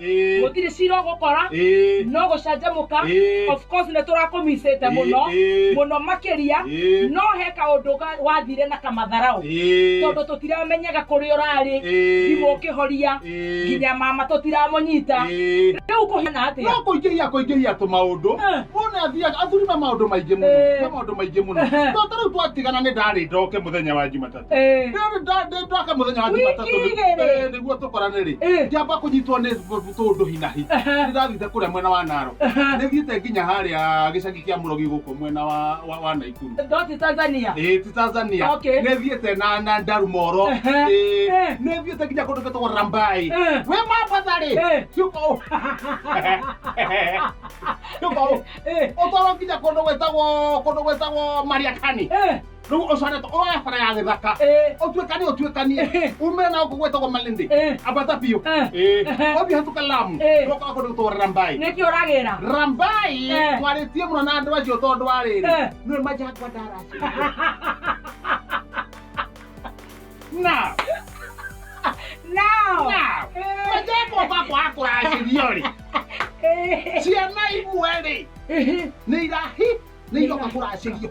Ĩĩ. gũtirĩ cira ũgũkora Ĩĩ. no gũcanjamũka Ĩĩ. of course nĩ tũrakũmicĩte mũno Ĩĩ. mũno makĩria Ĩĩ. no he kaũndũ ga- wathire na kamatharaũ Ĩĩ. tondũ tũtiramenyaga kũrĩa ũrarĩ Ĩĩ. thimũ ũkĩhoria Ĩĩ. nginya mama tũtiramũnyita Ĩĩ. rĩu kũhiana atĩa no kũingĩhia kũingĩhia tũ maũndũ Eh. mũndũ nĩ athiaga athuri me maũndũ maingĩ mũno Eh. me maũndũ maingĩ mũno Ehe. to ta rĩu twatigana nĩ ndarĩ ndoke mũthenya wa jumatatũ Eh. Ndio ndio- ndio twaka muthenya wa Wiki Jumatatu rĩ. igĩrĩ. Eh, nĩguo tũkorane rĩ Eh. ngĩamba kũnyitwo nĩ tũndũ hinahi Aha. ndĩrathite kũrĩa mwena wa naro Aha. nĩthiĩte nginya harĩa gĩcagi kĩa mũrogi gũkũ mwena wa wa- wa naikuru Ndoti Tanzania. Eh, ti tanzania Okay. nĩthiĩte na na ndarumoro Aha. Eh, Eh. nĩthiĩte nginya kũndũ gĩtagwo rambai Eh. we mambatha rĩ Eh. ciũka ũ ciũka ũ Eh. ũtwarwo nginya kũndũ gwĩtagwo kũndũ gwĩtagwo mariakani Eh. riu ucoretwo oya bara ya githaka Eh. utuikanie utuikanie Eh. ume na uko gwetagwo malindi Eh. ambata biu Eh. uthi hatuka lamu Eh. ndoka kundu gutwara rambai nĩkĩ ũragĩra rambai Eh. twaritie muno na andu acio tondu wa riri Eh. nwe maja hakwa ndaraci na Now. na maja hakwa bakwa akuracirio ri Eh. ciana imwe ri nä irahi nä iroka kå racirio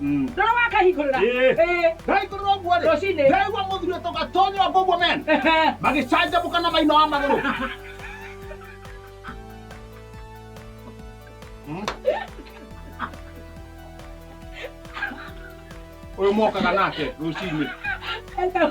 Mm. ndona wakahikorera Eh. Eh, ndaikorera ũguo rĩ Rũcinĩ. ndaigua mũthuri ũtoka tonya ngũguo men ehe. magĩcanjamũka na maina wa magũrũ Mm. ũyũ mokaga nake rũcinĩ Hello.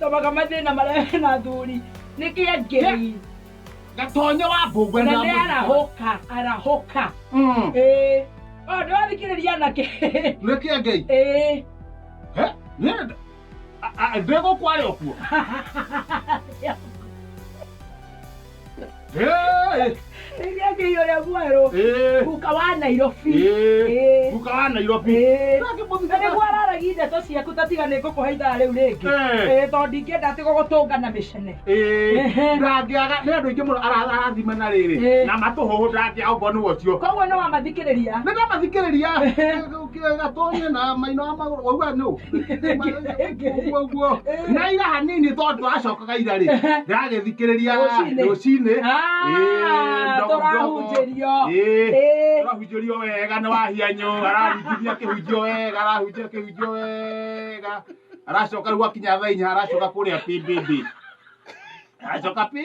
tomaga mathĩna marĩa na thuri nĩ kĩangĩrei gatonyo wa mbũngwe na nĩ arahũka arahũka Mm. ĩĩ o nĩ wathikĩrĩria anake nĩ kĩa ngei ĩĩ Eh, nĩ- a- a- ndĩgũkwarĩ okuo Eh, Rĩrĩa ngĩi ũrĩa mwerũ eh, guka wa Nairobi eh, Eh. guka wa Nairobi. Eh. Nake mũthitha- Na nĩguo araragia ndeto ciaku tatiga nĩ ngũkũhe ithaa rĩu rĩngĩ Eh. Eh, tondũ ndingĩenda atĩ gũgũtũnga na mĩcene Eh, Ehe. ndangĩaga nĩ andũ aingĩ mũno ara- arathima na rĩrĩ Eh. na matũhũhũ ndangĩaga ũguo nĩ wocio koguo nĩ wamathikĩrĩria nĩ ndamathikĩrĩria gatonye na maino ma magũrũ waigua nũ ũguo ũguo na ira hanini tondũ twacokaga ira rĩ ndagĩthikĩrĩria Rũcinĩ. rũcinĩ Ah, ndogo, tũrahunjĩrio. Ĩĩ, Ĩĩ. tũrahunjĩrio wega nĩ wahianyũ arahunjithia kĩhunjio wega arahunjia kĩhunjio wega aracoka rĩu gwakinya thaa inya aracoka kũrĩa pĩmbĩmbĩ aracoka pĩ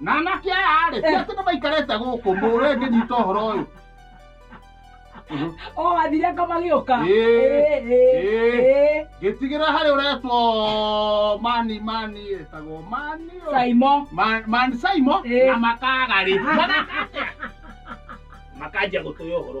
na anake aya rĩ ti atĩ nĩ maikarĩte gũkũ mũwe ngĩnyita ũhoro ũyũ o athire anga magĩũka Ĩĩ, Ĩĩ, ĩĩ. ĩĩ. ngĩtigĩra harĩ ũretwo mani mani etagwo mani ũ. saimo Ma- mani saimo Ĩĩ. na makaga rĩ Mageka atĩa? makanjia gũtũya ũhoro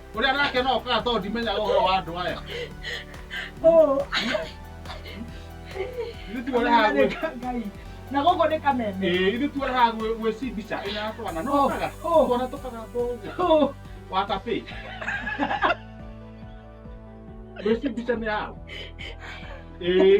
Uri anake no ka to ndimenya ũhoro wa andũ aya. Oh, Ithu tu ora hagu. Ngai. Na gũkũ nĩ kameme. Eh, ithu tu ora hagu we si bicha ina twana no Oh, kaga. oh. Twana tukaga to. Oh, Wa tapi. We si bicha me hagu. Eh,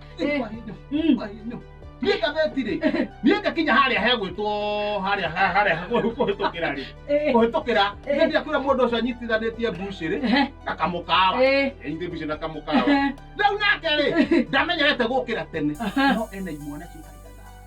Eh. Kwarĩnyo, Mm. kwarĩnyo. niĩ ngathĩtirĩ niĩ ngakinya harĩa hegwĩtwo harĩa harĩa kũhĩtũkĩra rĩ Eh. kũhĩtũkĩra Eh. nĩ ndĩakwĩra mũndũ ũcio anyitithanĩtie mbucĩ rĩ Ehe. na kamũkawa Eh. anyitithĩ mbucĩ na kamũkawa Ehe. rĩu nake rĩ ndamenyerete gũkĩra tene Aha. no ena imwana ciũkaga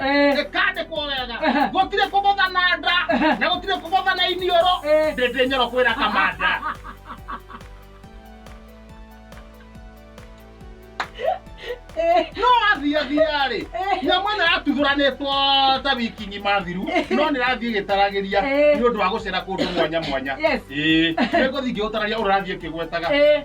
Eh. ĩkandĩkwo wega Ehe. gũtirĩ kũgũtha na nda Ehe. na gũtirĩ kũgũtha na iniũrũ Eh. ndĩndĩ nyoro kwĩra kamanda no athiathiarĩ nyamũ ĩno yatuthũranĩtwo ta wiki ng'ima thiru no nĩ rathiĩ ĩgĩtaragĩria Eh. nĩ ũndũ wa gũcera kũndũ mwanya mwanya Yes. ĩĩ nĩ ngũthiĩ ngĩũtararia ũrathiĩ kĩgwetaga Eh.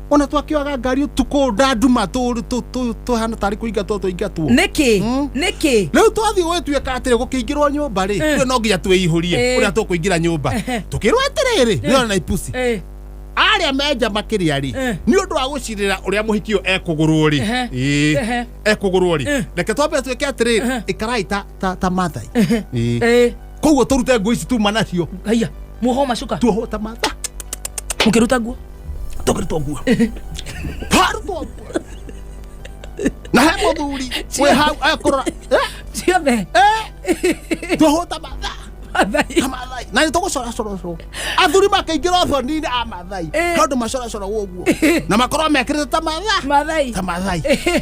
ona twakioaga ngari utuko ndanduma tu tu tu tuhana tari kuinga tu tuingatwo niki Mm. niki riu twathiĩ gwĩtuĩka atĩrĩ gũkĩingĩrwo nyũmba rĩ Eh. rĩu no nginya twĩihũrie Eh. ũrĩa tũkũingĩra nyũmba Ehe. tũkĩrwo atĩrĩrĩ rĩona na ipusi Eh, arĩa menja makĩria rĩ Eh. nĩ ũndũ wa gũcirĩra ũrĩa mũhiki ũyũ ekũgũrwo rĩ Ehe. Ĩĩ. Ehe. ekũgũrwo rĩ Eh. reke twambe twĩke atĩrĩ Ehe. ĩkarai ta ta ta mathai Ehe. Ĩĩ. Eh, koguo tå rute ngå ici tuma nacio haiya muoho macuka tuohwo ta matha mukiruta nguo tå kä rutwo nguo twarutwo nguo na he må thuri wä hau akårora ciothe tuohwo ta matha mathai ta mathai na nä tå gå coracorocwo athuri makaingä ra thoni-inä a mathai Eh. tondå macoracoragwo å guo na makorwo mekä rä te ta matha mathai ta mathai Eh,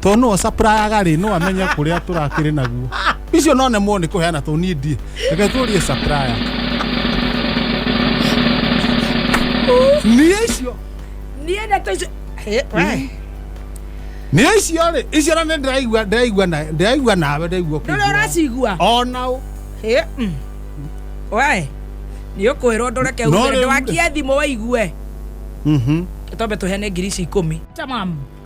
to no supplier rĩ no amenye kũrĩa tũrakĩrĩ naguo icio no nemwo nĩ kũheana to niĩ ndiĩ reke tũrie supplier niĩ icio niä ndeto icio Eh, we. niĩ icio rĩ icio na nĩ ndĩraigua ndĩraigua na ndĩraigua nawe ndĩraigua ndå rä kũigua. ũracigua ona ũ Eh, mm. we nä å kwä rwo ndå reke No rĩu- ndwakie thimå waigue Mhm. tombe tå heane ngiri ici ikå mi